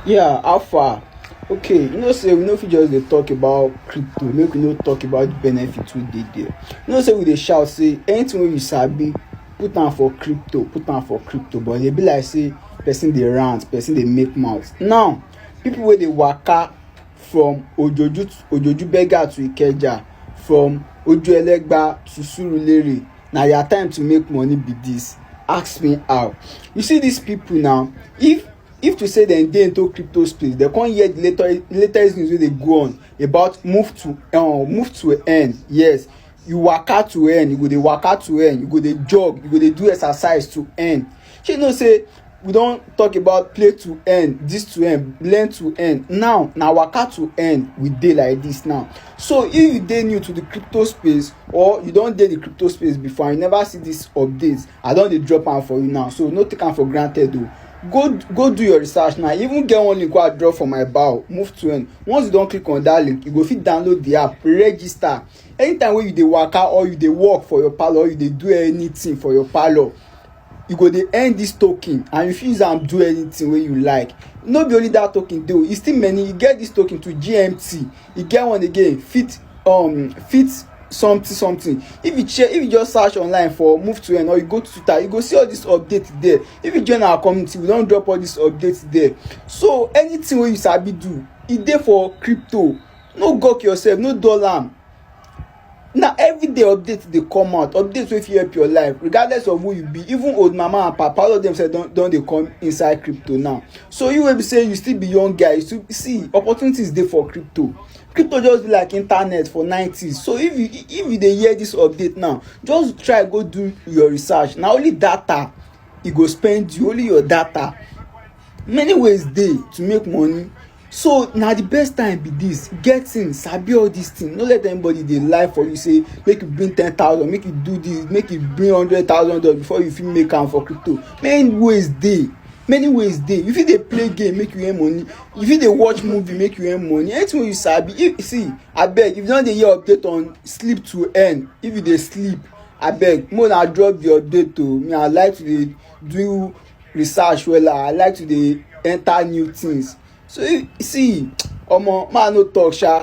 Yeah, how far? Okay, you know say we no fit just dey talk about crypto make we no talk about the benefit wey dey there. You know say we dey shout say anything wey you sabi put am for crypto put am for crypto but e dey be like say person dey rant person dey make mouth. Now people wey dey waka from ojoju to ojoju beggar to ikeja from ojuelegba to surulere na your time to make money be this ask me how you see these people now if if to say dem dey into crypto space dem come hear the latest latest news wey dey go on about move to um, move to earn yes you waka to earn you go dey waka to earn you go dey jog you go dey do exercise to earn shey you know say we don talk about play to earn this to earn learn to earn now na waka to earn we dey like this now so if you dey new to the crypto space or you don dey the crypto space before and you never see this update i don dey drop am for you now so no take am for granted o go go do your research now even get one link wey i drop for my bio move to earn once you don click on that link you go fit download the app register anytime wey you dey waka or you dey work for your parlour or you dey do anything for your parlour you go dey earn this token and you fit use am do anything wey you like no be only that token dey o e still many e get this token to gmt e get one again fit um fit something something if you check if you just search online for move to earn or you go to twitter you go see all this update there if you join our community we don drop all this update there so anything wey you sabi do e dey for crypto no gawk yourself no dull am na everyday update dey come out update wey fit help your life regardless of who you be even old mama and papa all of them sef don don dey come inside crypto now so you wey be say you still be young guy you still see opportunities dey for crypto crypto just be like internet for nineties so if you if you dey hear this update now just try go do your research na only data e go spend you only your data many ways dey to make money so na the best time be this get thing sabi all this thing no let anybody dey lie for you say make you bring ten thousand make you do this make you bring hundred thousand dollars before you fit make am for crypto many ways dey many ways dey you fit dey play game make you earn money you fit dey watch movie make you earn money anything wey you sabi if see abeg if you don dey hear update on sleep to earn if you dey sleep abeg make una drop the update o me i like to dey do research wella i like to dey enter new things so see omo ma no talk sha.